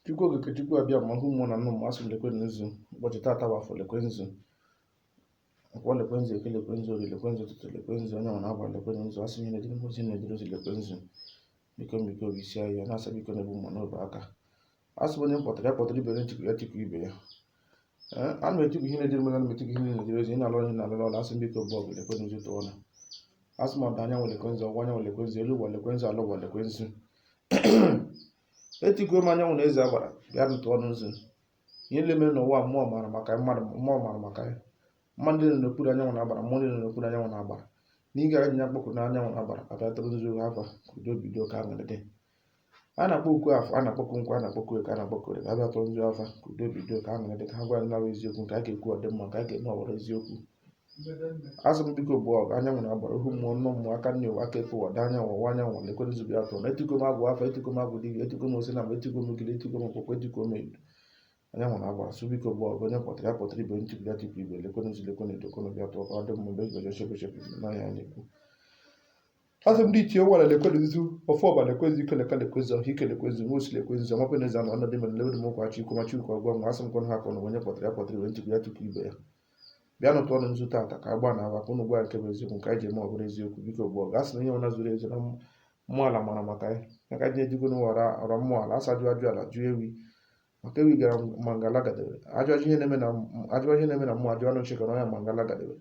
chukwu okike chukwu abịama ohu mmụọ na nnụ mmụọ a sị m lekwe nzu ụbọchị tata wụ afọ lekwe nzu nkwọ lekwe nzu eke lekwe nzu orie lekwe nzu ụtụtụ lekwe nzu anyanwụ na agbara lekwe nzu a sị m ihe na-ejiri mposi na-ejiri ozi lekwe nzu biko biko isi ahịa na-asa biko na-ebu mma n'obe aka a sị onye m kpọtara ya kpọtara ibe ya m tikwu ya tikwu ibe ya a na-etikwu ihe na-ejere mmadụ na-etikwu ihe na-ejere ozi na-alụ ihe na-alụ ọrụ a sị biko bụ ọgụ lekwe nzu tụọ ọnụ a sị m ọdịda anyanwụ lekwe nzu ọwụwa anyanwụ lekwe nzu elu ụwa lekwe nzu ala ụwa lekwe nzu etikuo m anyanwụ na eze agbara bịanụ tụọ ọnụ nzu ihe niile mere n'ụwa mmụọ mara maka ya mmadụ mmụọ mara maka ya mmadụ nọ n'okpuru anyanwụ na agbara mmụọ ndị nọ n'okpuru anyanwụ na agbara nke anyị na-akpọkụ anyanwụ na agbara bịa tara nzu afa ka udo bido ka aṅụrị dị a na-akpọkụ afọ a na-akpọkụ nkwọ a na-akpọkụ eke a na-akpọkụ orie ka ha bịa tara nzu afa ka udo bido ka aṅụrị dị ka ha gwa anyị nke bụ eziokwu nke a ga-ekwu ọdịmma nke a ga-eme ọ wụrụ eziokwu a sị m biko bụ ọgụ anyanwụ na agbara ohu mmụọ nnụ mmụọ aka nri ụwa aka ekpe ụwa ọdịda anyanwụ ọwụwa anyanwụ lekwenụ nzu bịa tụọ ọnụ etiko m agwụ afa etiko m agwụ dibia etiko m osi na mgbe etiko m ogiri etiko m mkpụkpọ etiko m edo anyanwụ na agbara a sị biko bụ ọgụ onye kpọtara ya kpọtara ibe m tikwu ya tikwu ibe lekwenụ nzu lekwenụ edo lekwenụ bịa tụọ ka ọ dị mma mgbe egoje chebe chebe n'anya ya na-ekwu a sị m ndị ichie ụwa lekwenụ nzu ofe ọba lekwenụ ike leka lekwenụ ọha ike lekwenụ nwa osi lekwenụ ọma penezi anọ ọnọdụ mere lewedo m ụkwachi ikwu machi ukwu ọgwa nwa a sị m kọnụ ha kọnụ onye kpọtara ya kpọtara ibe m tikwu ya tikwu ibe ya bịanụ tụọ ọnụ nzu tata ka agba na aba ka ụnụ gwa nke bụ eziokwu nke anyị ji eme ọ bụrụ eziokwu biko bụ ọgụ a sị na ihe ọna zuru ezu na mmụọ ala mara maka ya ya ka ji ejigo na wara ọra mmụọ ala a sị a jụọ ajụ ala jụọ ewi maka ewi gara mangala gadebe ajụ ajụ ihe na-eme na ajụ ihe na-eme na mmụọ ajụ anụ chekara ọnya mangala gadebe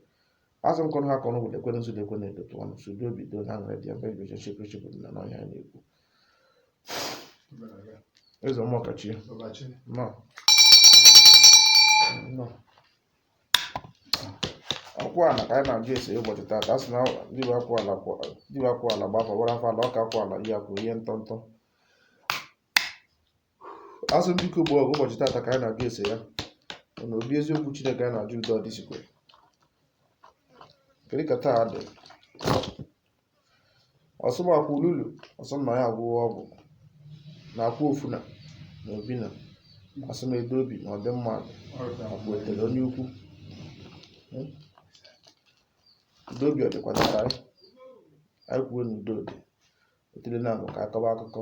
a sị m kọnụ ha kọnụ wụ lekwenụ nzu lekwenụ edo tụọ ọnụ sị udo bido na aṅụrị dị ya mgbe eji oche chekwe chekwe na n'ọhịa na-ekwu Eze ọma ọkachi. Ọkachi. Nọ. Nọ. Akwụ ala ka anyị na-ajụ ese ụbọchị taata. A sị na dibịa akwụ ala dibịa akwụ ala gba afa ọ wụrụ afa ala ọka akwụ ala ihe akwụ ihe ntọntọ. a sị m biko bụ ọgụ ụbọchị taata ka anyị na-ajụ ese ya na obi eziokwu chineke anyị na-ajụ udo ọdịsikwe kedu ka taa dị ọsụmakwụ lulu ọsụmma ya agwụghị ọgwụ na akwụ ofu na na obi na a sị m udo obi na ọdịmma akwụ etere onye ukwu udo obi ọdịkwana ka anyị anyị kwuo na udo dị otele na abụ ka akọba akụkọ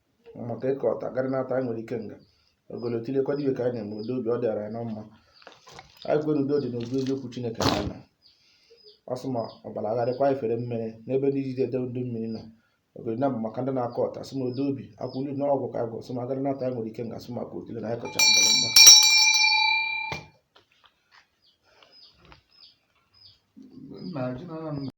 maka ịkọ ọta garị nata anyị were ikenga ogolo tinyekwa dibịa ka anyị na-eme udo obi ọ dịara anyị na mma anyị kwere udo dị n'obi eziokwu chineke na anyị ọ sị ma ọbara agharịkwa anyị fere mmiri n'ebe ndị iji ede udo mmiri nọ ogolo na mbụ maka ndị na-akọ ọta sị ma udo obi akwụlu na ọgwụ ka anyị gwọrọ sị ma garị nata anyị nwere ikenga sị maka otile na anyị kọcha mgbọrọ mgba Nna, ji na nna m